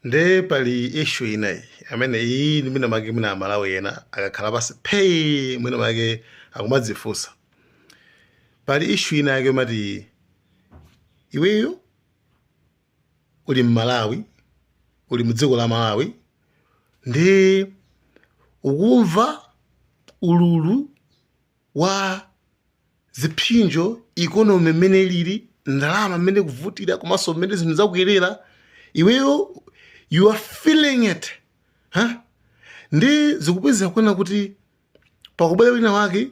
nde pali ishu inayi amene iyi ndi mwina make mwina amalawi ena akakhala pasi phei mwina make akumadzifunsa pali ishu ina yake moti iweyo uli mmalawi uli mudziko la malawi ndi ukumva ululu wa ziphinjo economy mmene ilili ndalama mmene ikuvutira komanso mmene zinthu zakwerera iweyo you are feeling it huh? nde zikupezeka kuona kuti pakubwera wina wake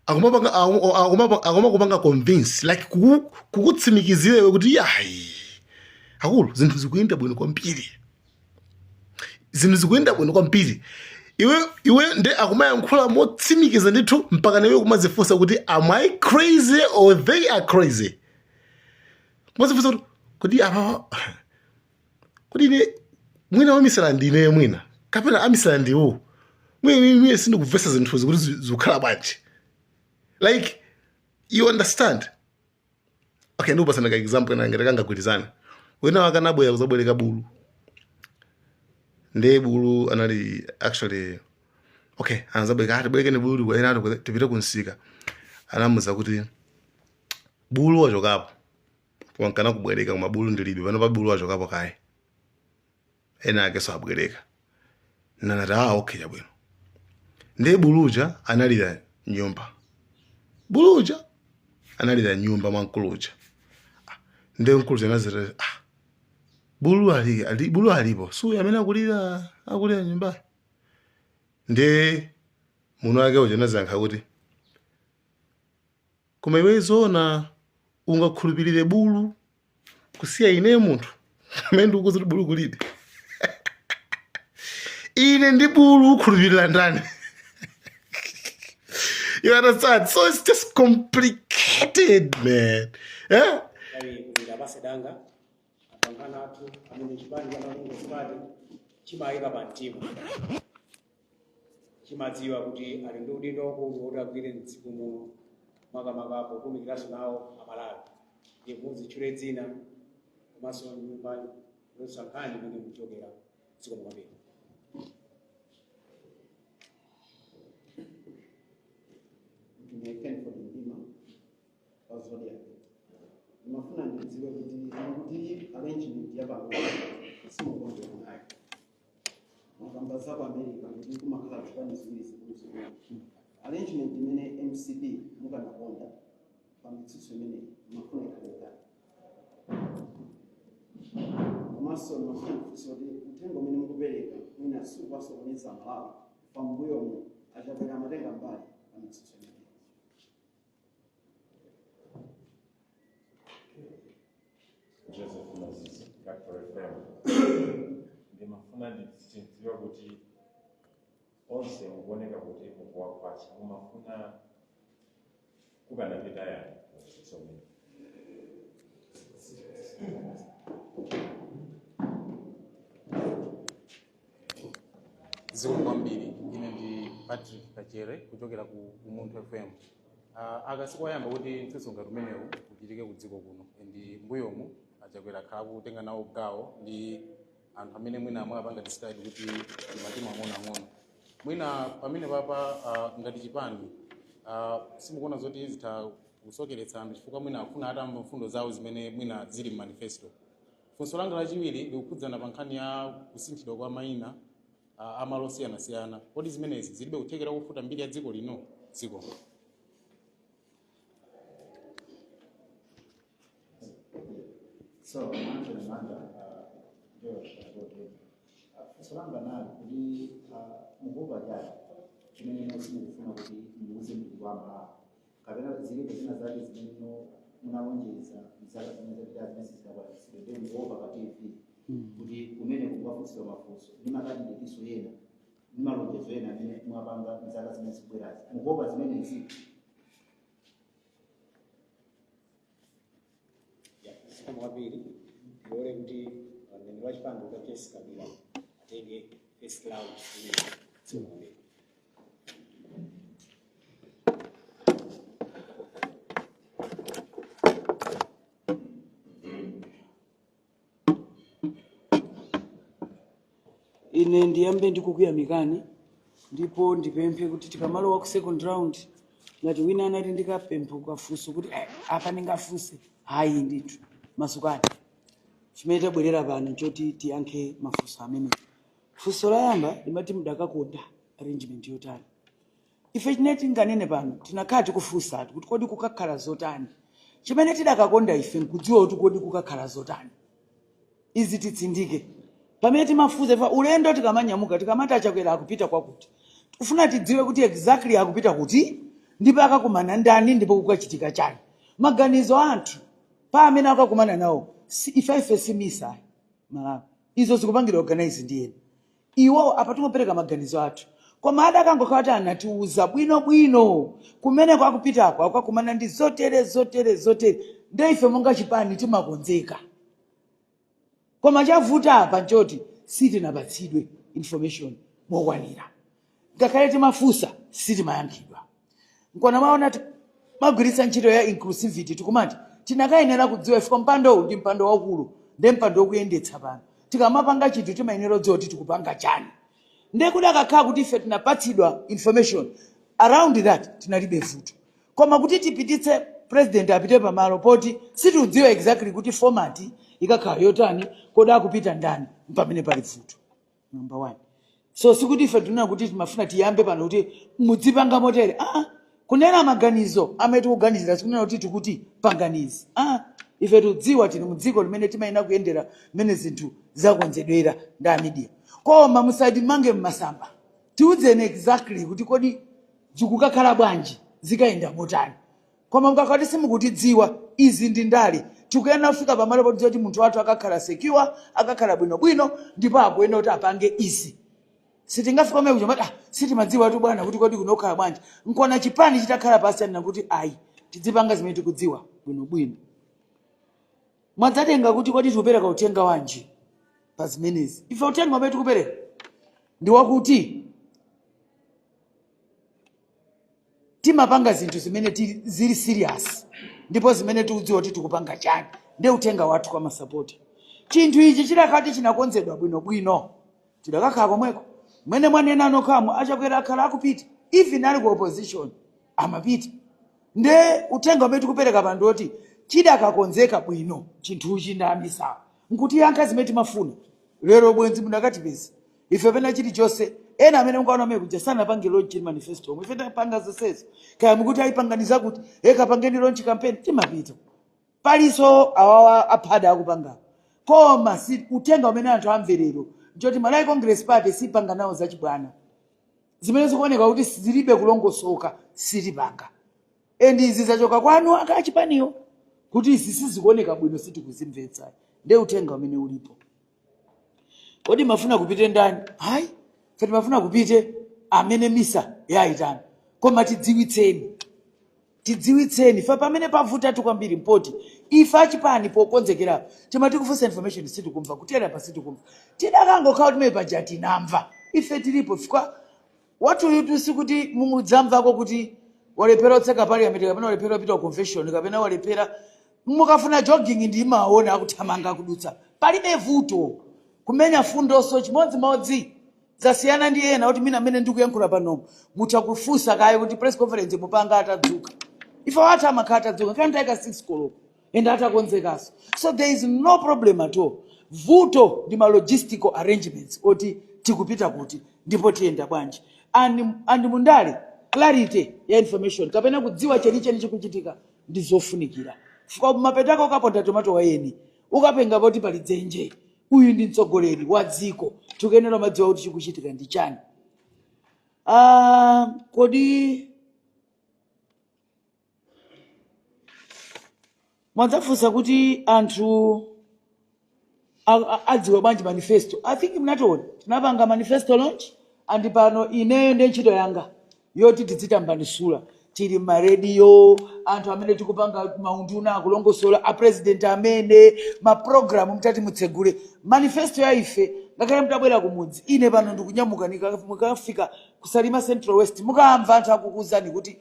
akumapanga aku- aku- akumakupanga convince like kuku- kukutsimikizira iwe kuti yayi akulu zinthu zikuyenda bwino kwambiri zinthu zikuyenda bwino kwambiri iwe iwe nde akumayankhula motsimikiza ndithu mpaka naiwe kumazifunsa kuti am i crazy or they are crazy kumazifunsa kuti kodi apa kodi ine mwina wamisala ndine mwina kapena amisala ndiwo mwina sindikuvesa zinthuzi kuti zikukhala bwanji like you understand okay ndikupasani ka example kaya ngati kangagwirizane wina wake anabwera kuzabwereka bulu ndiye bulu anali actually okay anazabwereka atibwerekeni bulu kwa ena ati kuti tipite kumsika anamuza kuti bulu wachokapo wamkana kubwereka koma bulu ndilibe panopa bulu wachokapo kaye ena akeso abwereka nanati ah okay chabwino ndiye bulu uja analira mnyumba bulu uja analira mnyumba mwa mkuluja ah, ndiye mkuluja anazati ah, bulu ali, ali, bulu alipo si uyo amene akulira akulira mnyumbayo ndiye mwini wake uja anazayankha kuti koma iwe zoona ungakhulupirire bulu kusiya ineyo munthu amene ndikukuuza kuti bulu kulibe ine ndi bulu ukhulupirira ndani you understand so it's just complicated man eh? abale anga apa anzathu amene chipani cha malawi congress party chimaika pa mtima chimadziwa kuti ali ndi udindo waukulu woti agwire mdziko muno makamaka potumikiranso nawo amalawi ndiye muzitchule dzina komanso nyumba youlutsa nkhani imene muchokera zikomo kwambiri ndine keni kodi ndima wa zodiac ndimafuna ndidziwe kuti kuti arrangement yapamene simukonjera nayo mwakamba za ku america kuti kumakhala zipani ziwiri zikuluzikulu arrangement imene mcp mukanakonda pa mitsutso imeneyi mumafuna ikhale komanso ndimafuna kufunsa kuti uthenga umene mukupereka mwina sukuwasokoneza amalawi pambuyomu a Chakwera amatenga mbali pa mitsutso imeneyi Joseph Moses, Capital FM. Ndimafuna ndidziwe kuti onse mukuoneka kuti mukuwakwatsa mumafuna kukanapita yani muzitsomera zikomo kwambiri ine ndi patrick kachere kuchokera ku umunthu fm uh, aka sikoyamba kuti mtsutso ngati umenewu uchitike m'dziko kuno ndi mbuyomu a Chakwera akhala akutenga nawo gawo ndi anthu amene mwina mwawapanga describe kuti ndi matimu ang'onoang'ono mwina pamene panopa uh, ngati chipani uh, simukuona zoti zitha kusokeretsa anthu chifukwa mwina afuna atamva mfundo zawo zimene mwina zili m'manifesto Funso langa lachiwiri likukhudzana pa nkhani ya kusinthidwa kwa mayina ah, a malo osiyanasiyana. Kodi zimenezi zilibe kuthekera kofufuta mbiri ya dziko lino? Zikomo. So, manje manda George Agote. Funso langa lili kuti mukuopa chani chimene simukufuna kuti muuze mbiri wa Malawi. kapena zilipo zina zake zimene munalonjeza mzaka zimene zapita zimene sizidakwanitsidwe nde mukuopa pa tv kuti mwina kukafunsidwa mafunso ndi makandideti enawo ndi malonjezo ena amene mwapanga mzaka zimene zikubwerazi mukuopa zimenezi zikomo kwambiri ndilole kuti mneni wa chipani dokotala jessie kabwila atenge first round imeneyi zikomo kwambiri ine ndiyambe ndikukuyamikani ndipo ndipemphe kuti tikamalowa ku second round ngati wina anati ndikadali ndi kafunso kuti "Eh, apa ndingafunse hayi ndithu masukani chimene tabwerera pano nchoti tiyankhe mafunso amene funso loyamba limati mudakakonda arrangement yotani Ife chimene tinganene pano, tinakhala tikufunsatu kuti kodi kukakhala zotani? Chimene tidakakonda ife nkudziwa kuti kodi kukakhala zotani? Izi titsindike. Pamene timafunsa chifukwa ulendo tikamanyamuka tikamati a Chakwera akupita kwakuti, tikufuna tidziwe kuti exactly akupita kuti ndipo akakumana ndi ndani ndipo kukachitika chani. Maganizo a anthu pa amene akakumana nawo si, ifefe si MISA ayi. Malawi. Izo zikupangidwa organize ndi ena. Iwo apa timangopereka maganizo athu, koma adakangokhala kuti anatiuza bwino bwino kumeneko akupitako akakumana ndi zotere zotere zotere nde ife monga chipani timakonzeka koma chavuta apa nchoti sitinapatsidwe information mokwanira ngakhale timafunsa sitimayankhidwa nkona maona timagwiritsa ntchito ya inclusivity tikumati tinakayenera kudziwa chifukwa mpandowu ndi mpando waukulu ndi mpando wokuyendetsa pano tikamapanga chinthu timayenera kudziwa kuti tikupanga chani ndiye kudakakhala kuti ife tinapatsidwa information around that tinalibe vuto koma kuti tipititse president apite pamalo poti sitikudziwa exactly kuti format ikakhala yotani kodi akupita ndani mpamene pali vuto number one so sikuti ife tikunena kuti timafuna tiyambe pano kuti mudzipanga motere ah, kunena maganizo amene tikuganizira sikunena kuti tikuti pangani izi ah, ife tikudziwa tili mu dziko limene timayenera kuyendera mmene zinthu zakonzedwera ndi amidia koma musatimange mmasamba tiuzeni exactly kuti kodi zikukakhala bwanji zikayenda motani Koma mukakhala kuti simukutidziwitsa, izi ndi ndale. Tikuyenera kufika pamalo potidziwa kuti munthu wathu akakhala secure, akakhala bwinobwino ndipo akuyenera kuti apange izi. Sitingafike komwe kuja nkumati, ah, sitimadziwatu bwana kuti kodi kuno kukhala bwanji. Nkona chipani chitakhala pansi chanena kuti ayi, tidzipanga zimene tikudziwa bwinobwino. Mwadzanena kuti kodi tikupereka uthenga wanji pa zimenezi? Ife uthenga umene tikupereka ndi wakuti timapanga zinthu zimene tili- zili serious ndipo zimene tiudziwa kuti tikupanga chani nde uthenga wathu kwa masapota chinthu ichi chidakati chinakonzedwa bwinobwino tidakakhala komweko mmene mwanena nokhamu a Chakwera akhala akupita even ali ku opposition amapita nde uthenga umene tikupereka pano ndi woti chidakakonzeka bwino chinthuchi ndi a MISA nkutiyankha zimene timafuna lero bwenzi mudakatipeza ife pena chilichonse ena amene mungaona amene kuja sanapange launch in manifesto omwe ife tapanga zonsezo kaya mukuti ayi panganinso kuti kapangeni launch campaign timapita palinso awawa aphada akupanga koma si uthenga umene anthu amvere lero ngoti malawi congress party sipanga nawo zachibwana zimene zikuoneka kuti zilibe kulongosoka sitipanga and izi zachoka kwa akuluakulu achipaniwo kuti izi sizikuoneka bwino sitikuzimvetsa nde uthenga umene ulipo kodi mumafuna kupite ndani ayi ife timafuna kupite amene misa yayitana koma tidziwitseni tidziwitseni ife pamene pavutatu kwambiri mpoti ife achipani pokonzekerapo timati tikufunsa information sitikumva kutereku pa sitikumva tidakangokhala kuti mmene paja tinamva ife tilipo chifukwa Wathuyutu sikuti munadzamvako kuti walephera kutseka parliament kapena walephera kupita ku convention kapena walephera mukafuna jogging ndi mumaona akuthamanga akudutsa palibe vuto kumenya mfundonso chimodzimodzi zasiyana ndi ena kuti mwina amene ndikuyankhula panomo mutha kufunsa kaye kuti press conference mupanga atadzuka ife wathu amakhala atadzuka nthawi ya 6 koloko and atakonzekanso so there is no problem at all vuto ndi ma logistical arrangements oti tikupita kuti ndipo tiyenda bwanji and, and mu ndale clarity ya information kapena kudziwa chenicheni chikuchitika ndi zofunikira chifukwa mapeto ake ukaponda tomato wa eni ukaponda poti pali dzenje uyu ndi mtsogoleri wa dziko tikuyenera kumadziwa kuti chikuchitika ndi chani Ah, kodi mwadzafunsanso kuti anthu a- a- adziwe bwanji manifesto i think munationa tinapanga manifesto launch and pano ineyo ndi ntchito yanga yoti tizitambasula tili mma rediyo anthu amene tikupanga maunduna akulongosola apresident amene maprogramu mtati mutsegule manifesto ya ife ngakhale mtabwera kumudzi ine pano ndikunyamuka nika- mukafika kusalima central west mukawamva anthu akukuuzani kuti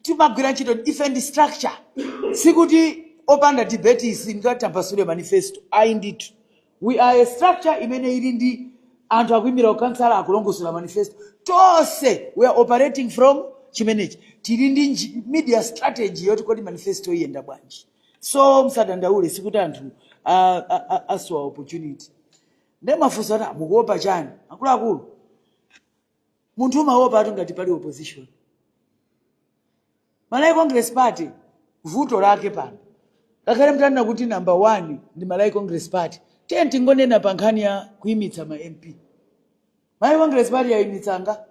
timagwira ntchito ife ndi structure sikuti opanda debate singatambasule manifesto ayi ndithu we are a structure imene ili ndi anthu akuimira ukansala akulongosola manifesto tonse we are operating from chimenechi tili ndi nji- media strategy yoti kodi manifesto iyenda bwanji so msadandaule sikuti anthu a- a- a- asowa opportunity nde mwafunsa kuti mukuopa chani akuluakulu munthu umaopatu ngati pali opposition malawi congress party vuto lake pano ngakhale mtanena kuti namba 1 ndi malawi congress party tiye tingonena pa nkhani ya kuyimitsa ma mp malawi congress party yayimitsa angati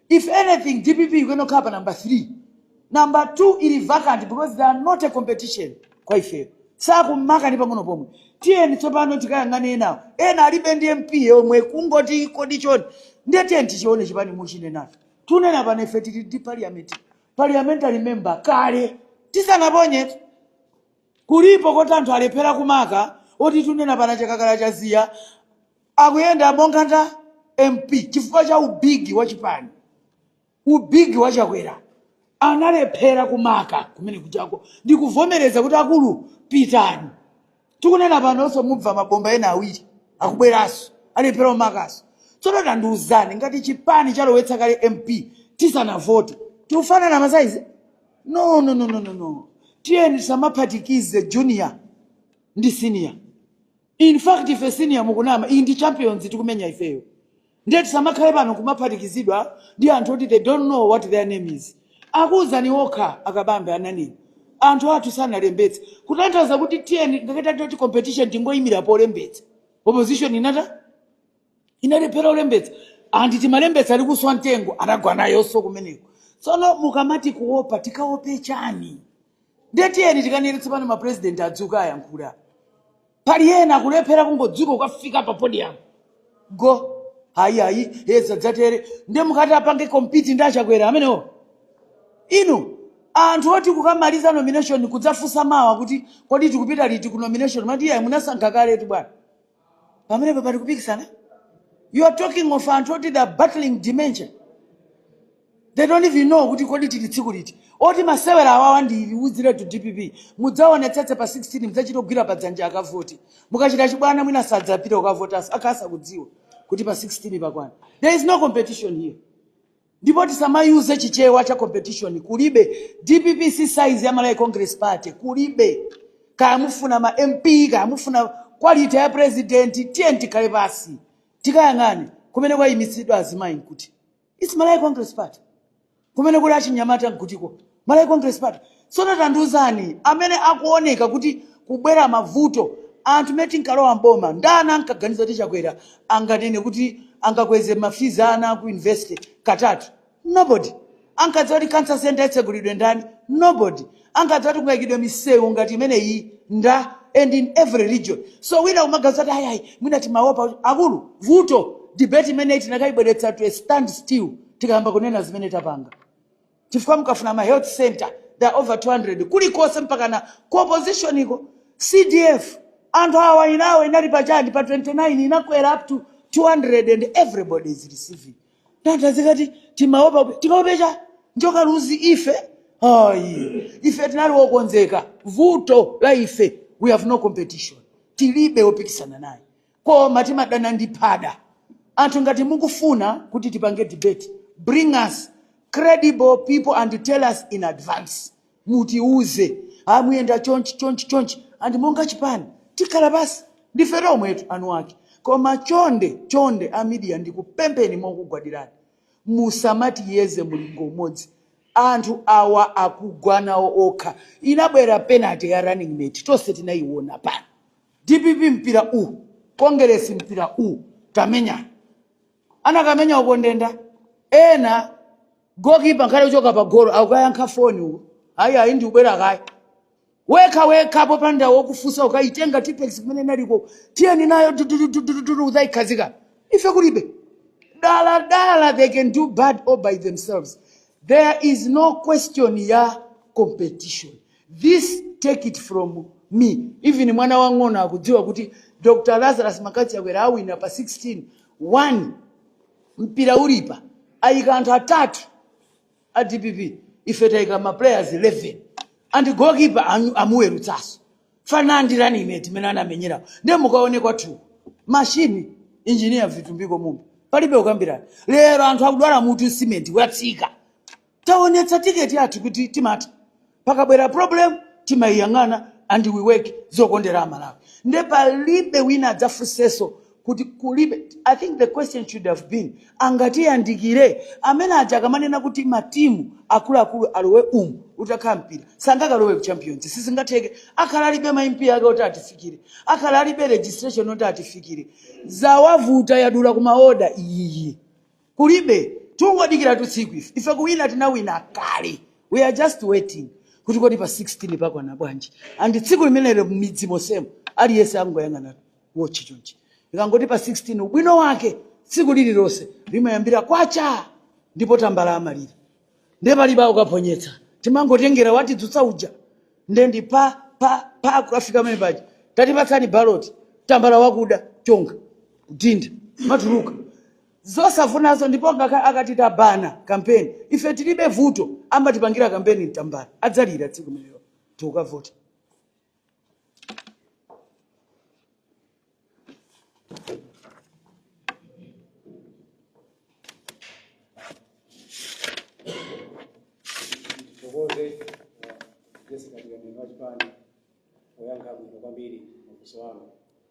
If anything dpp ikuyenera kukhala pa number 3, number 2 ili vacant because they are not a competition kwa ifeyo. Sakumaka ndi pang'ono pomwe. Tiyeni tsopano tikayang'ane enawo. Ena alibe ndi MP yomwe kungoti kodi chani. Ndiye tiyeni tichione chipani muchinenacho. Tikunena pano ife tili ndi parliament, parliamentary member kale tisanaponye kulipo koti anthu alephera kumaka oti tikunena pano a Chakakala Chaziya Akuyenda monga ndi MP chifukwa cha u big wa chipani, u big wa Chakwera analephera kumaka kumene kujako. Ndikuvomereza kuti akulu pitani. Tikunena panonso mumva mabomba ena awiri akubweranso, alephera kumakanso. Tsono tandiuzani ngati chipani chalowetsa kale MP tisanavote, tikufanana masaizi? No, no, no, no, no, no. Tiyeni tisamaphatikize junior ndi senior. In fact ife senior mukunama iyi ndi champions tikumenya ifeyo ndiye tisamakhale pano kumaphatikizidwa ndi anthu oti they don't know what their name is akuwuzani okha a Kabambe ananena anthu athu sanalembetse kutanthauza kuti tiyeni ngati ndi zoti competition tingoyimira polembetsa opposition inalephera kulembetsa and timalembetsa a Likuswa mtengo anagwa nayonso kumeneko tsono mukamati kuopa tikaope chani Ndiye tiyeni tikanene tsopano ma president adzuke ayankhule apa. Pali ena akulephera kungodzuka kukafika pa podium. Go. Hayi hayi, eh zadzatere. Ndiye mukati apange compete ndi a Chakwera amenewo. Inu anthu oti kukamaliza nomination kudzafunsa mawa kuti kodi tikupita liti ku nomination mati iyayi munasankha kaletu bwana. Pamenepo pali kupikisana? You are talking of anthu oti they are battling dementia. They don't even know kuti kodi tili tsiku liti. Oti masewera awawa ndikuuziretu dpp. Mudzaonetsetse pa 16 mudzachite kugwira pa dzanja akavote. Mukachita chibwana mwina sadzapita kukavotanso akhala asakudziwa kuti pa 16 pakwana. There is no competition here. Ndipo tisamayuse chichewa cha competition kulibe. Dpp si size ya Malawi Congress Party kulibe. Kaya mufuna ma MP kaya mufuna quality ya president tiyeni tikhale pansi. Tikayang'ane kumene kwayimitsidwa azimayi n'kuti. its malawi congress party kumene kuli achinyamata nkutiko malawi congress party tsono tandiuzani amene akuoneka kuti kubwera mavuto anthu mene tinkalowa m'boma ndani ankaganiza kuti chakwera anganene kuti angakweze mafizi a ana aku university katatu nobody ankadziwa kuti cancer center itsegulidwe ndani nobody ankadziwa kuti kungaikidwe misewu ngati imeneyi ndani and in every region so wina kumaganiza kuti ayayi mwina timaopa kuti-" akulu vuto debate imeneyi tinakayibweretsa to a stand still tikayamba kunena zimene tapanga chifukwa mukafuna ma health center there are over 200 kulikonse mpakana ku opposition iko cdf anthu awa yawo inali pachani pa 29 inakwera up to 200 and everybody is receiving Nde mudzikati timaopa tikaope chani njoka luzi ife. Ayi, ife tinali wokonzeka. Vuto la ife we have no competition. Tilibe wopikisana naye. Koma timadana ndi phada. Anthu ngati mukufuna kuti tipange debate, bring us credible people and tell us in advance. mutiuze a muyenda chonchi chonchi chonchi and monga chipani tikhala pansi ndife tomwetu eni ake koma chonde chonde a media ndikupempheni mokugwadirani musamatiyeze mulingo umodzi anthu awa akugwa nawo okha inabwera penalty ya running mate tonse tinayiona pano dpp mpira u kongeresi mpira u tamenya anakamenya uko ndenda ena Goalkeeper nkhale kuchoka pa golo akayankha foni uko. Ayi ayi ndikubwera kaye. Wekha wekha popanda wokufunsa ukayitenga tipex kumene inaliko. Tiyeni nayo dudududududu udzayikhazika. Ife kulibe. Dala dala they can do bad all by themselves. There is no question ya competition. This take it from me. Even mwana wang'ono akudziwa kuti Dr. Lazarus McCarthy Chakwera awina pa 16 mpira ulipa ayika anthu atatu a dpp ife tayika ma players 11 and goalkeeper anu- amuwerutsaso fanandirani ine timene anamenyerawo ndiye mukaona kwathu mashini injiniya vitumbiko mumba palibe kukambirana lero anthu akudwala mutu simenti watsika Taonetsa ticket yathu kuti timatha. Pakabwera problem timaiyang'ana and we work out zokondera a Malawi. Nde palibe wina adzafunseso kuti kulibe. I think the question should have been angatiyandikire? Amene aja akamanena kuti matimu akuluakulu alowe umu utakhala mpira sangakalowe ku champions sizingatheke. Akhala alibe ma MP ake oti atifikire. Akhala alibe registration yoti atifikire. Zawavuta yadula kumaoda iyiyi. Kulibe, tingodikiratu tsiku ife. Ife kuwina tinawina kale. We are just waiting kuti kodi pa 16 pakwana bwanji. And tsiku limenelo m'midzi monsemo aliyense angoyang'ana watch chonchi. Ikangoti pa 16 ubwino wake tsiku lililonse limayambira kwacha ndipo tambala amalira. Ndiye palibe kukaphonyetsa. Timangotengera watidzutsa uja. Ndiye ndi pa pa pa kukafika pamene paja. Tatipatsani ballot. Tambala wakuda chonga. Kudinda. Mwatuluka. Zosavuta izo ndipo ngakhale akati tabana kampeni ife tilibe vuto amatipangira kampeni ndi tambala adzalira tsiku limenelo tikavota. Tithokoze Jessica Mlembi wa chipani poyankha bwino kwambiri mafunso anu.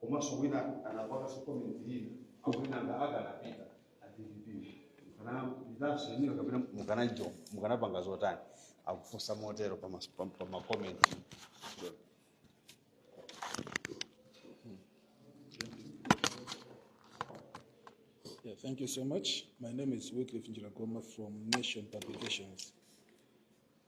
komanso wina anaikaso comment hii akuti nanga akanapita adpp mukanapitanso inuyo kapena mukanajo mukanapanga zotani akufunsa motero pa mas- pa- pa makomenti Yeah, thank you so much. My name is Wycliffe Njiragoma from Nation Publications.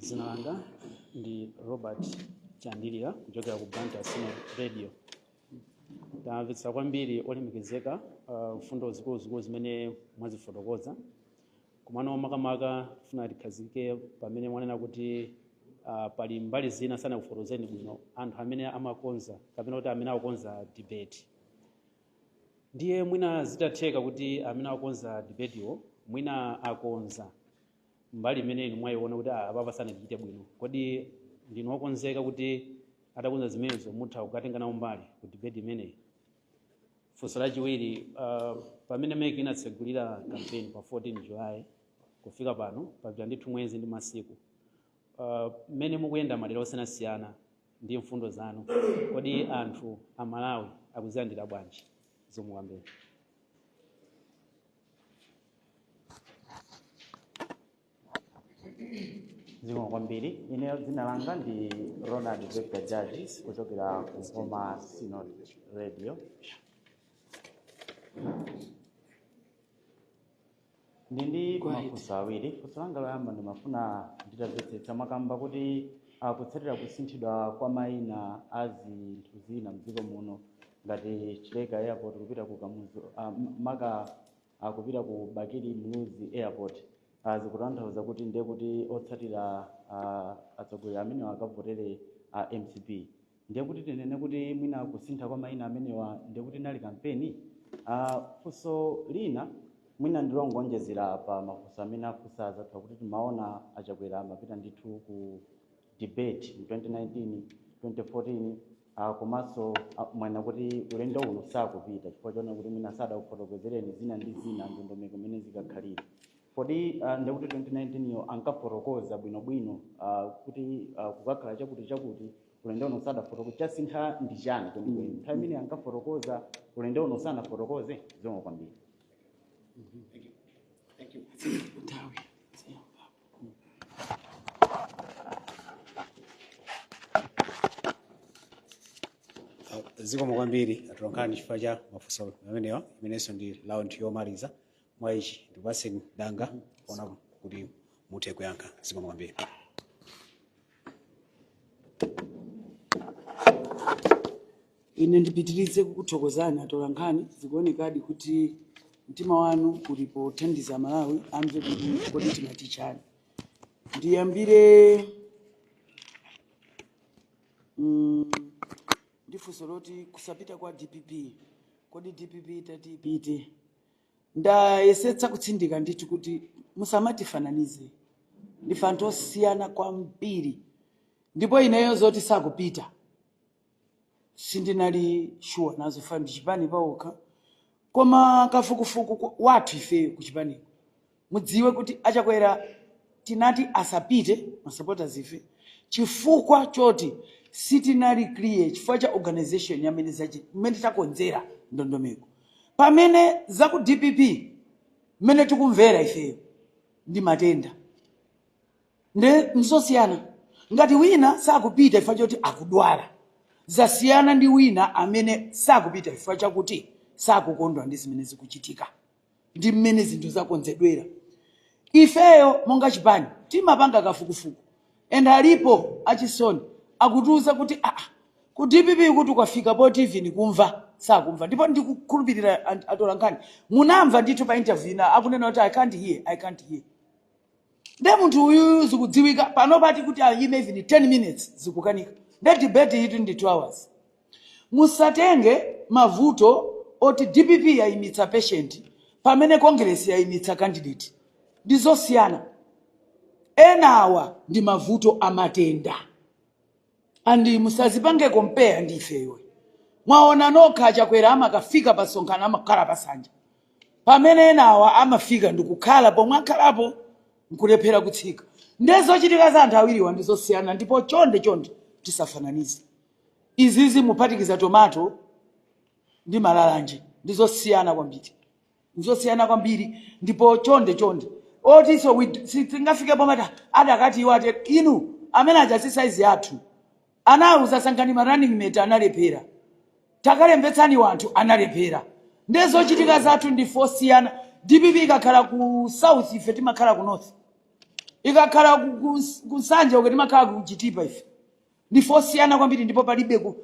dzina langa ndi robert chandilira kuchokera ku blantyre synod radio tamvetsa kwambiri olemekezeka uh, mfundo zikuluzikulu zimene mwazifotokoza komano makamaka tifuna tikhazikike pamene mwanena kuti uh, pali mbali zina sanakufotokozeni bwino anthu amene amakonza kapena kuti amene akukonza debate Ndiye mwina zitatheka kuti amene akukonza debate-wo mwina akonza mbali imene inu mwayiona kuti ah, apapa sanachite bwino, kodi ndinu okonzeka kuti atakonza zimenezo mutha kukatenga nawo mbali ku debate imeneyi? Funso lachiwiri, ah, pamene MEC inatsegulira campaign pa 14 July kufika pano papita ndithu mwezi ndi masiku, Ah, mmene mukuyenda madera osiyanasiyana ndi mfundo zanu kodi anthu a malawi akuzilandira bwanji zikomo kwambiri zikomo kwambiri ine dzina langa ndi ronald victor judges kuchokera ku nkhoma synod radio ndi ndi mafunso awiri funso langa loyamba ndimafuna nditamvetsetsa mwakamba kuti akutsatira kusinthidwa kwa mayina a zinthu zina mdziko muno ngati chileka airport kupita ku kamuzu ah, m- maka kupita ku bakili muluzi airport Ah, zikutanthauza kuti ndiye kuti otsatira ah, atsogoleri amene akavotere a mcp ndiye kuti tinene kuti mwina kusintha kwa mayina amenewa ndiye kuti inali kampeni uh, funso lina mwina ndi longoonjezera pa mafunso amene afunsa anzathu kuti timaona achakwera amapita ndithu ku debate mu 2019 2014 uh, komanso uh, mwanena kuti ulendo uno sakupita chifukwa choona kuti mwina sadakufotokozereni zina ndi zina ndondomeko mmene zikakhalire kodi uh, ndiye kuti 2019 yo ankafotokoza bwinobwino uh, kuti uh, kukakhala chakuti chakuti ulendo uno sadafotokoze chasintha ndi chani kwenikweni nthawi imene ankafotokoza ulendo uno sanafotokoze zikomo kwambiri zikomo kwambiri atolankhani chifukwa cha mafunso amenewa imenenso ndi round yomaliza mwa ichi ndikupatseni danga kuona kuti muthe kuyankha zikomo kwambiri ine ndipitirize kukuthokozani atolankhani zikuonekadi kuti mtima wanu uli pothandiza amalawi amve kuti kodi timati chani ndiyambire mm, ndi funso loti kusapita kwa dpp kodi dpp itati ipite Ndayesetsa kutsindika ndithu kuti musamatifananize. Ndife anthu osiyana kwambiri. Ndipo ineyo zoti sakupita sindinali sure nazo chifukwa ndi chipani pachokha. Koma kafukufuku kwa- wathu ifeyo ku chipaniko Mudziwe kuti a Chakwera tinati asapite ma supporters ife chifukwa choti sitinali clear chifukwa cha organization ya mmene zachi mmene takonzera ndondomeko. Pamene za ku dpp mmene tikumvera ifeyo ndi matenda nde nzosiyana ngati wina sakupita chifukwa choti akudwala zasiyana ndi wina amene sakupita chifukwa chakuti sakukondwa ndi zimene zikuchitika. ndi mmene zinthu zakonzedwera ifeyo monga chipani timapanga kafukufuku and alipo achisoni akutiuza kuti aa ku dpp kuti ukafika pa TV nikumva sakumva ndipo ndikukhulupirira ant- atolankhani munamva ndithu pa interview ina akunena kuti i can't hear i can't hear Nde munthu uyuyu zikudziwika panopa ati kuti ayime even 10 minutes zikukanika. Nde debate yitu ndi 2 hours. Musatenge mavuto oti dpp yayimitsa patient pamene Congress yayimitsa candidate. Ndizosiyana. Enawa ndi mavuto a matenda. And musazipange compare ndi ife iwo. Mwaona nokha a Chakwera amakafika pa msonkhano amakhala pa sanja. Pamene enawa amafika ndikukhala pomwe akhalapo nkulephera kutsika. Nde zochitika za anthu awiriwa ndi zosiyana ndipo chonde chonde tisafananize. Izizi muphatikiza tomato ndi malalanje ndi zosiyana kwambiri. nzosiyana kwambiri ndipo chonde chonde otiso we- si- tingafike pomata adakati iwo ati inu amene aja si saizi yathu anauza sankhani ma running mate analephera takalembetsani wanthu analephera nde zochitika zathu ndife osiyana dpp ikakhala ku south ife timakhala ku north ikakhala ku- ku- ku nsanje uko timakhala ku chitipa ife ndife osiyana kwambiri ndipo palibe ku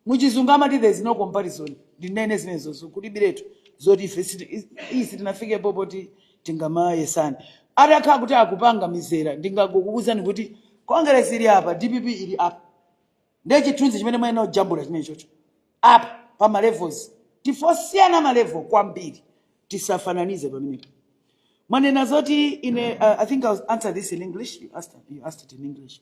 muchizungu amati there is no comparison ndinene zimenezozo kulibiretu zoti ife siti- is- iyi sitinafikepo poti tingamayesane atakhala kuti akupanga mizera ndingakukuuzani kuti congress ili apa dpp ili apa ndiye chithunzi chimene mwayenera kujambula chimenechocho apa pa malevels ndife osiyana malevo kwambiri tisafananize pamenepo mwanena zoti ine uh, i think i will answer this in english you asked, you asked it in english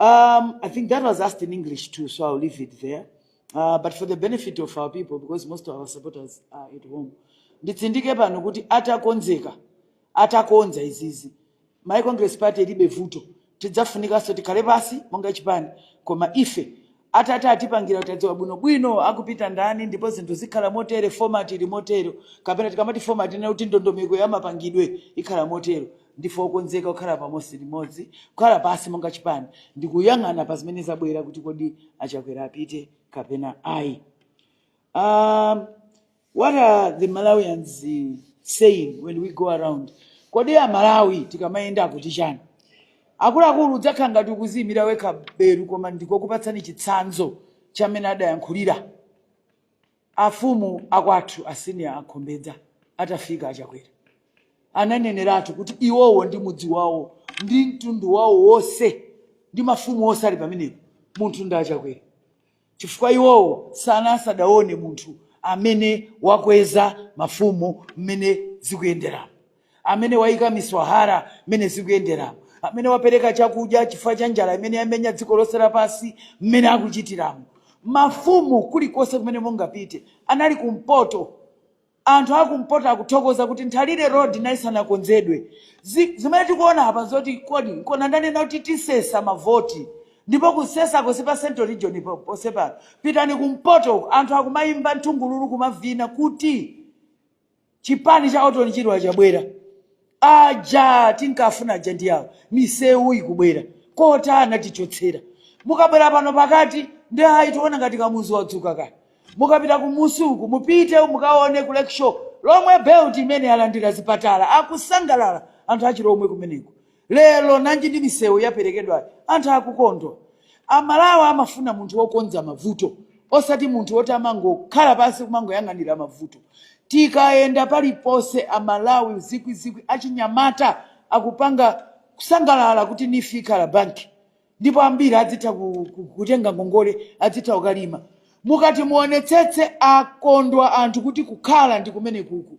Um, I think that was asked in English too, so I'll leave it there. Uh, but for the benefit of our people, because most of our supporters are at home, nditsindike pano kuti atakonzeka atakonza izizi malawi congress party ilibe vuto tidzafunikanso tikhale pansi monga chipani koma ife Atate atipangira tadziwa bwino bwino akupita ndani ndipo zinthu zikhala motere format ili motero kapena tikamati format tinena kuti ndondomeko ya mapangidwe ikhala motero. Ndife okonzeka kukhala pansi limodzi kukhala pansi monga chipani ndikuyang'ana pa zimene zabwera kuti kodi a Chakwera apite kapena ayi. Um, What are the Malawians eh, saying when we go around? Kodi a Malawi tikamayenda akuti chani? Akuluakulu udzakhala ngati ukuziyimira wekha beru koma ndikukupatsani chitsanzo cha mmene adayankhulira afumu akwathu asiniya akhombedza atafika achakwera ananeneratu kuti iwowo ndi mudzi wawo ndi mtundu wawo wonse ndi mafumu onse ali pamenepo munthu ndi achakwera chifukwa iwowo sana asadaone munthu amene wakweza mafumu mmene zikuyenderamo amene waika miswahara mmene zikuyenderamo amene wapereka chakudya chifukwa cha njala imene yamenya dziko lonse lapansi mmene akuchitiramo mafumu kulikonse kumene mungapite anali kumpoto Anthu a kumpoto akuthokoza kuti Nthalire Road nayi isanakonzedwe. Zimene tikuona apa nzoti kodi nkona ndanena kuti tisesa mavoti? Ndipo kusesako si pa Central Region ponse pano. Pitani kumpoto, anthu akumaimba nthungululu kumavina kuti chipani cha Orton Chirwa chabwera. Aja tinkafuna aja ndi awa misewu ikubwera quota anatichotsera mukabwera pano pakati nde ayi tiona ngati kamuzu wadzuka kaya mukapita kumusi uku mupite mukaone ku lakeshore lomwe belt imene yalandira zipatala akusangalala anthu achilomwe kumeneko lero nanji ndi misewu yaperekedwayo anthu akukondwa A Malawi amafuna munthu wokonza mavuto osati munthu woti amangokhala pansi kumangoyang'anira mavuto. Tikayenda paliponse a Malawi zikwi zikwi achinyamata akupanga kusangalala kuti neef ikhala bank ndipo ambiri adzitha kutenga ngongole adzitha kukalima. Mukati muonetsetse akondwa anthu kuti kukhala ndikumenekuku.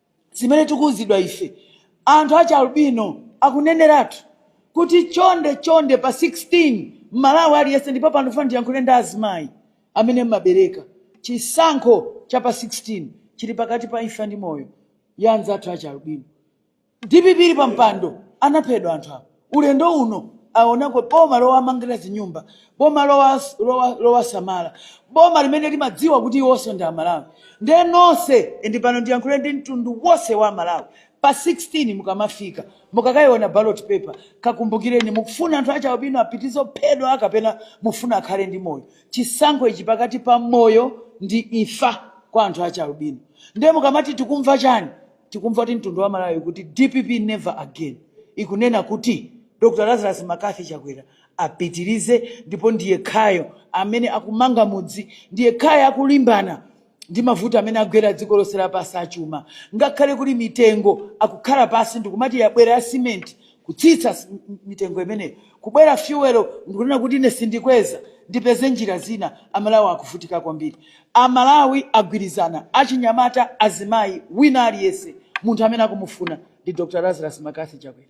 zimene tikuuzidwa ife anthu a chialbino akuneneratu kuti chonde chonde pa 16 mmalawi aliyense ndipo pano mfuna ndiyankhule ndi azimayi amene mmabereka chisankho cha pa 16 chili pakati pa imfa ndi moyo ya anzathu a chialbino dpp ili pa mpando anaphedwa anthu awo Ulendo uno aonako boma lowamangira zinyumba, boma lowasamala, boma limene limadziwa kuti iwonso ndi Amalawi. Nde nonse and pano ndiyankhule ndi mtundu wonse wa Amalawi, pa 16 mukamafika mukakaiona ballot paper kakumbukireni mukufuna anthu achialubino apitize kuphedwa kapena mufuna akhale ndi moyo. Chisankho ichi pakati pa moyo ndi imfa kwa anthu achialubino. Nde mukamati tikumva chani? Tikumva kuti mtundu wa Malawi kuti dpp never again ikunena kuti Dr Lazarus Mccarthy Chakwera apitilize ndipo ndiyekhayo amene akumanga mudzi ndiyekhayo akulimbana ndi mavuto amene agwera dziko lonse lapansi achuma ngakhale kuli mitengo akukhala pansi ndikumati yabwera ya cement kutsitsa mitengo imeneyo kubwera fuel ndikunena kuti ine sindikweza ndipeze njira zina amalawi akuvutika kwambiri amalawi agwirizana achinyamata azimayi wina aliyense munthu amene akumufuna ndi Dr Lazarus Mccarthy Chakwera.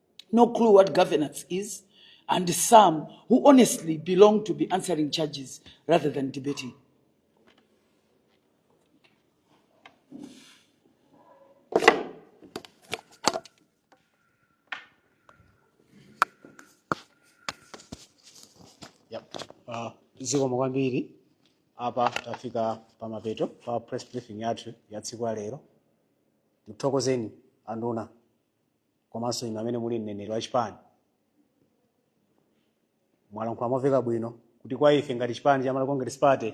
no clue what governance is, and some who honestly belong to be answering charges rather than debating. Yep. Uh, zikomo kwambiri apa tafika pamapeto pa press briefing yathu ya tsiku la lero tikuthokozeni anduna komanso inu amene muli mneneri wa chipani mwalankhula momveka bwino kuti kwa ife ngati chipani cha Malawi Congress Party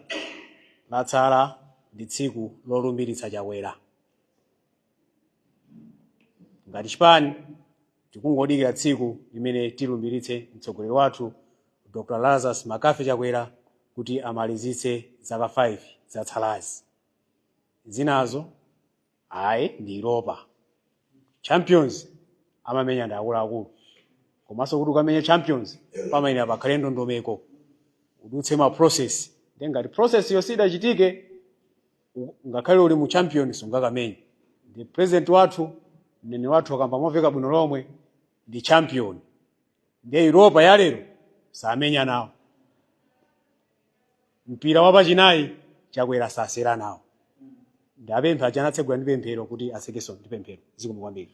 latsala ndi tsiku lolumbiritsa Chakwera. Ngati chipani tikungodikira tsiku limene tilumbiritse mtsogoleri wathu Dr. Lazarus Mccarthy Chakwera kuti amalizitse zaka 5 zatsalazi. Zinazo ayi ndi Europa champions amamenya ndi akuluakulu komanso kuti ukamenya champions pamayenera pakhale ndondomeko udutse ma process nde ngati process yo sidachitike u- ngakhale uli mu champions sungakamenye nde president wathu mneneri wathu akamba momveka bwino lomwe ndi champion nde Europa yalero samenya nawo mpira wa pachinayi chakwera sasewera nawo ndipemphe aja anatsegula ndi pemphero kuti atsekenso ndi pemphero zikomo kwambiri